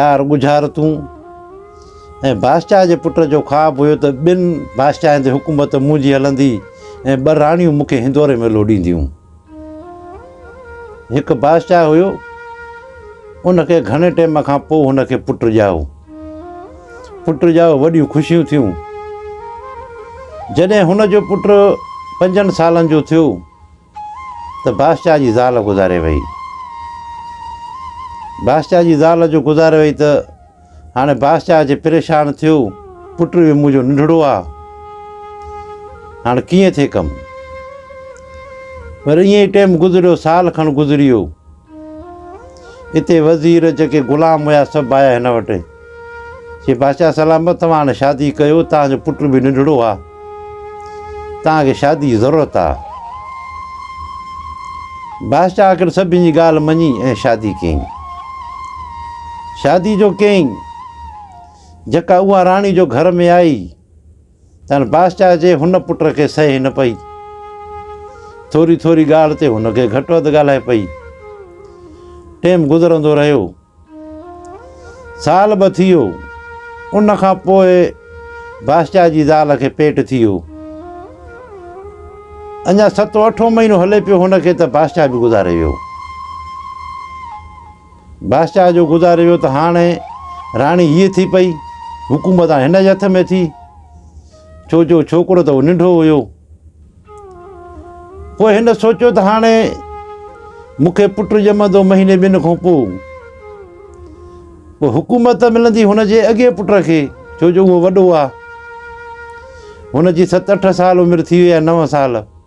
چار ڳجهارتون ۽ بادشاهه جي پٽ جو خواب هيو ته ٻن بادشاهن تي حڪومت منهنجي هلندي ۽ ٻه راڻيون مون کي هندوري ۾ لوڏينديون. هڪ بادشاهه هيو ان کي گهڻي ٽيم کان پوء هن کي پٽ ڄائو پٽ ڄائو وڏيون خوشيون ٿيون جڏهن هن جو پٽ پنجن سالن جو ٿيو ته باشجاء جي زال گذاري وئي. باشجاء جي زال جو گذاري وئي ته هاڻي باشجاء اچي پريشان ٿيو، پٽ به منهنجو ننڍڙو آ، هاڻي ڪيئن ٿئي ڪم. وري ائين ئي ٽيم گذريو، سال کن گذري ويو. اتي وزير جيڪي غلام هيا سڀ آيا هن وٽ چي بادشاهه سلامت توهان هاڻي شادي ڪيو توهان جو پٽ به ننڍڙو آ توهان کي شادي جي ضرورت آ بادشاهه آخر سڀني جي ڳالهه مڃي ۽ شادي ڪيائين شادي جو ڪيائين جيڪا اها راڻي جو گهر ۾ آئي تنھن بادشاھه جي ھن پٽ کي سھي نه پئي. ٿوري ٿوري ڳالھه تي ھن کي گھٽ وڌ ڳالھائي پئي. ٽيم گذرندو رھيو. سال ٻه ٿيو. ان کان پوء بادشاھه جي زال کي پيٽ ٿيو. اڃا ستون اٺون مھينو ھلي پيو ھن کي ته بادشاھه به گذاري ويو. بادشاهه جو گذاري ويو ته هاڻ راڻي هيء ٿي پئي، حڪومت هاڻ هن جي هٿ ۾ ٿي، ڇو جو ڇوڪرو ته ننڍو هيو. پوء هن سوچيو ته هاڻ مون کي پٽ ڄمندو مهيني ٻن کان پوء. پوء حڪومت ته ملندي هن جي اڳئين پٽ کي، ڇو جو اهو وڏو آ. هن جي ست اٺ سال عمر ٿي وئي آ، نو سال.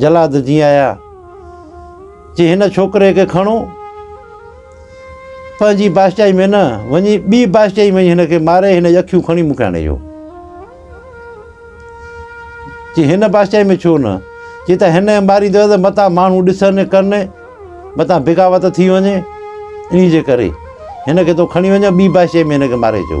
جلاد جي آيا چي هن ڇوڪري کي کڻو پنهنجي بادشاهي ۾ نه وڃي ٻي بادشاهي وڃي هن کي ماري هن جي اکيون کڻي مون کي آڻي ڏيو چي هن بادشاهي ۾ ڇو نه چي ته هن ماريندو ته متان ماڻهو ڏسن ڪن متان بغاوت ٿي وڃي ان جي ڪري هن کي تو کڻي وڃ ٻي بادشاهي ۾ هن کي ماري اچو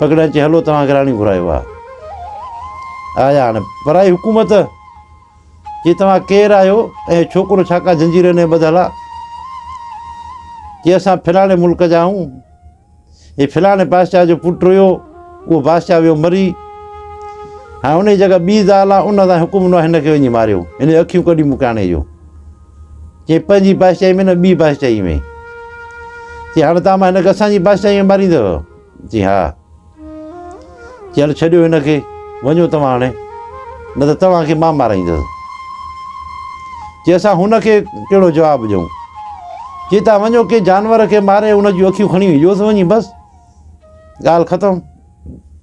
پگهڙا چي هلو توهان کي راڻي گهرايو آ آيا هاڻي پرائي حڪومت چي توهان ڪير آهيو ۽ ڇوڪرو ڇا ڪا زنجيرن ۾ ٻڌل آ چي اسان فلاڻي ملڪ جا آهيون هي فلاڻي بادشاهه جو پٽ هيو اهو بادشاهه ويو مري هاڻي ان جي جڳھ ٻي زال آ ان سان حڪم نو هن کي وڃي ماريو هن اکيون ڪڍي مون کي آڻي اچو چي پنهنجي بادشاهي ۾ نه ٻي بادشاهي ۾ چي هاڻي تان مان هن کي اسان جي بادشاهي ۾ ماريندو چي ها چي هل ڇڏيو هن کي وڃو توهان هاڻي نه ته توهان کي مان مارائيندس چي اسان هن کي ڪهڙو جواب ڏيون چي تان وڃو ڪي جانور کي ماري هن جون اکيون کڻي ويو ته وڃي بس ڳالهه ختم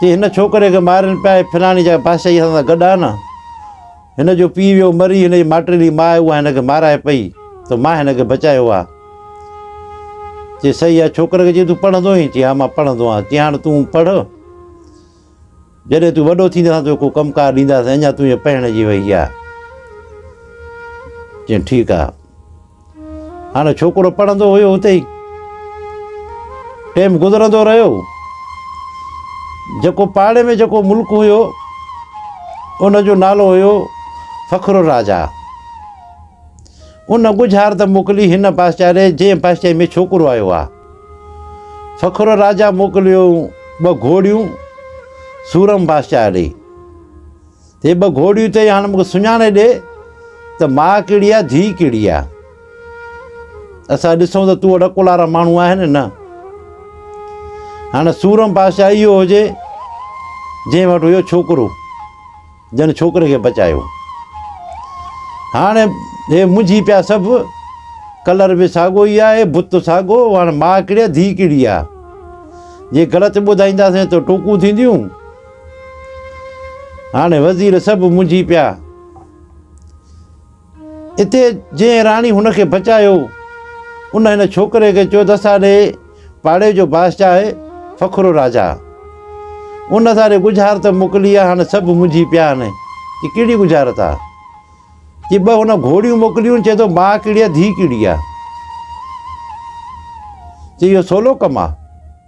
چي هن ڇوڪري کي مارين پيا هي فلاڻي جاء بادشاهي اسان سان گڏ آهي نه هن جو پيء ويو مري هن جي ماٽيلي ماء اها هن کي مارائي پئي ته مان هن کي بچايو آهي چي صحيح آهي ڇوڪري کي چي تون پڙهندو آهين چي ها مان پڙهندو آهيان چي هاڻ تون پڙهه جڏهن تون وڏو ٿيندين اسان توکي ڪو ڪم ڪار ڏينداسين اڃا تون هيء پهڻجي وئي آهي. چيائين ٺيڪ آهي. هاڻي ڇوڪرو پڙهندو هيو اتي ئي. ٽيم گذرندو رهيو. جيڪو پاڙي ۾ جيڪو ملڪ هيو ان جو نالو هيو فخر الراجا ان ڳجهارت موڪلي هن بادشاهه ڏي جنهن بادشاهي ۾ ڇوڪرو آيو آهي سکر راجا موڪليو ٻه گهوڙيون سورم بادشاهه ڏي هي ٻه گهوڙيون چئي هاڻ مونکي سڃاڻي ڏي ته ماء ڪهڙي آهي ڌيء ڪهڙي آهي اسان ڏسون ته تون اڏڪو لارا ماڻهو آهي نه نه هاڻي سورم بادشاهه اهو هجي جنهن وٽ هيو ڇوڪرو جنھن ڇوڪري کي بچايو. ھاڻ ھي منجھي پيا سڀ. ڪلر به ساڳو ئي آھي، بت ساڳو، ھاڻ ماء ڪھڙي آھي ڌيء ڪھڙي آھي. جي غلط ٻڌائينداسين ته ٽوڪون ٿينديون. ھاڻ وزير سڀ منجھي پيا. اتي جنهن راڻي هن کي بچايو، ان هن ڇوڪري کي چيو ته اساڏي پاڙي جو بادشاهه آهي فخرو راجا. ان اساڏي ڳجهارت موڪلي آهي، هاڻ سڀ منجهي پيا آهن. چي ڪهڙي ڳجهارت آهي؟ چي ٻه هن گهوڙيون موڪليون، چئي ٿو ماء ڪهڙي آهي ڌيء ڪهڙي آهي؟ چي اهو سولو ڪم آهي.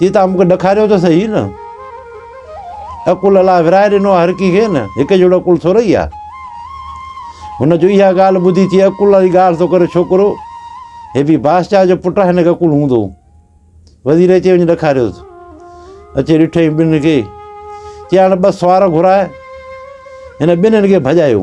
چي تان مونکي ڏکاريو ته سهي نه عقل الله ورائي ڏنو هر ڪي کي نه هڪ جهڙو عقل ٿورئي آ هن جو اها ڳالهه ٻڌي چي عقل الله جي ڳالهه ٿو ڪري ڇوڪرو هي به بادشاهه جو پٽ هن کي عقل هوندو وزير اچي وڃي ڏکاريو اچي ڏٺئي ٻن کي چي هاڻي ٻه سوار گهرائي هن ٻنهن کي ڀڄايو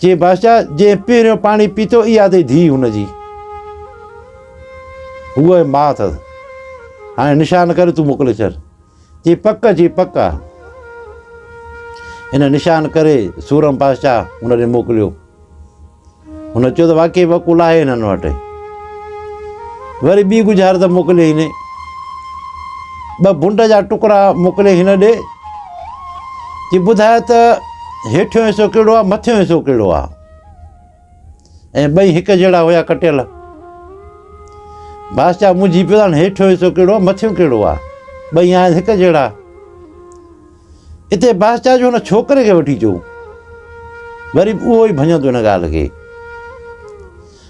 چي بادشاهه جنهن پهريون پاڻي پيتو اها اٿئي ڌيء هن جي هو اهي ماء اٿس هاڻي نشان ڪري تون موڪلي ڇڏ چي پڪ چي پڪ آ هن نشان ڪري سورم بادشاهه هن ڏي موڪليو هن چيو ته واقعي وڪول آهي هنن وٽ وري ٻي گجار ته موڪلي هن ٻه بنڊ جا ٽڪرا موڪلي هن ڏي چي ٻڌاء ته هيٺيون حصو ڪهڙو آ مٿيون حصو ڪهڙو آ ۽ ٻئي هڪ جهڙا هيا ڪٽيل بادشاهه منجهي پيو هاڻ هيٺيون حصو ڪهڙو آ مٿيون ڪهڙو آ ٻئي آهن هڪ جهڙا اتي بادشاهه جو هن ڇوڪري کي وٺي چو وري به اهو ئي ڀڃندو هن ڳالهه کي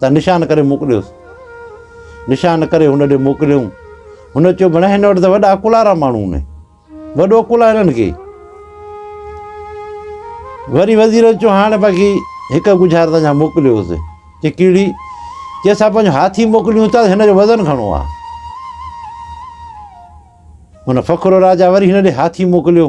ته نشان ڪري موڪليوس. نشان ڪري هن ڏي موڪليائون. هن چيو ڀيڻ هن وٽ ته وڏا ڪلارا ماڻهو آهن. وڏو ڪلهه هنن کي. وري وزيرن چيو هاڻ باقي هڪ ڳجهار تان جا موڪليوس. چي ڪهڙي؟ چي اسان پنهنجو هاٿي موڪليون ٿا هن جو وزن گهڻو آهي. هن فخر راجا وري هن ڏي هاٿي موڪليو.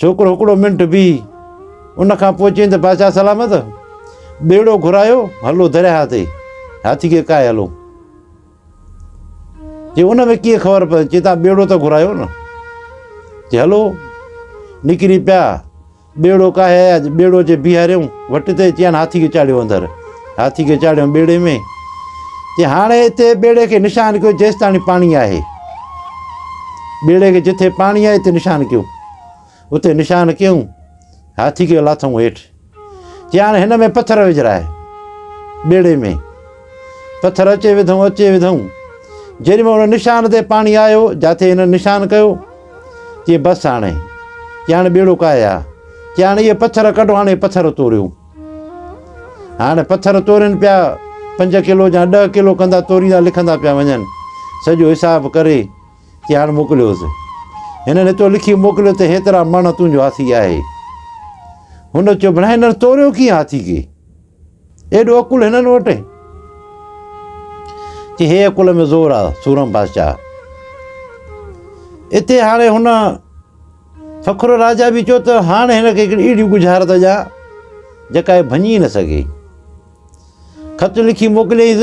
ڇوڪرو هڪڙو منٽ بيهي، ان کان پوء چيائين ته بادشاهه سلامت، ٻيڙو گهرايو، هلو درياهه تي، هاٿي کي ڪاهي هلو. چي ان ۾ ڪيئن خبر پوي؟ چي تان ٻيڙو ته گهرايو نه. چي هلو، نڪري پيا، ٻيڙو ڪاهي آيا، ٻيڙو جي بيهاريون، وٽ تي چيائين هاٿي کي چاڙهيو اندر. هاٿي کي چاڙهيم ٻيڙي ۾، جي هاڻي هتي ٻيڙي کي نشان ڪيو جيستاڻي پاڻي آهي. ٻيڙي کي جتي پاڻي آهي اتي نشان ڪيو. اتي نشان ڪيون، هاٿي کي لاٿون هيٺ. جي هاڻي هن ۾ پٿر وجھرائي ٻيڙي ۾ پٿر اچي وڌون اچي وڌون جيڏي مهل ان نشان تي پاڻي آيو جاٿي هن نشان ڪيو جي بس هاڻي جي هاڻي ٻيڙو ڪاهي ها جي هاڻي اهي پٿر ڪڍو هاڻي پٿر توريون هاڻ پٿر تورين پيا پنج ڪلو جا ڏهه ڪلو ڪندا توريندا لکندا پيا وڃن سڄو حساب ڪري چي هاڻ موڪليوس هنن هتو لکي موڪليو ته هيترا مڻ تنهنجو هاٿي آهي هن چيو بنا هنر توريو ڪيئن هاٿي کي ايڏو عقل هنن وٽ چي هي عقل ۾ زور آ سورم بادشاهه اتي هاڻي هن سکرو راجا به چيو ته هاڻ هن کي هڪڙي اهڙي ڳجهارت ڏيان جيڪا هي ڀڃي نه سگهي خط لکي موڪليس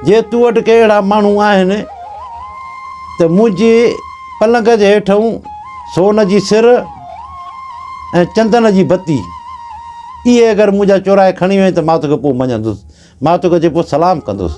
جي تو وٽ ڪي اهڙا ماڻهو آهن ته منهنجي پلنگ جي هيٺئون سون جي سر ۽ چندن جي بتي اهي اگر منهنجا چورائي کڻي وئين ته مان توکي پوء مڃندس مان توکي اچي پوء سلام ڪندس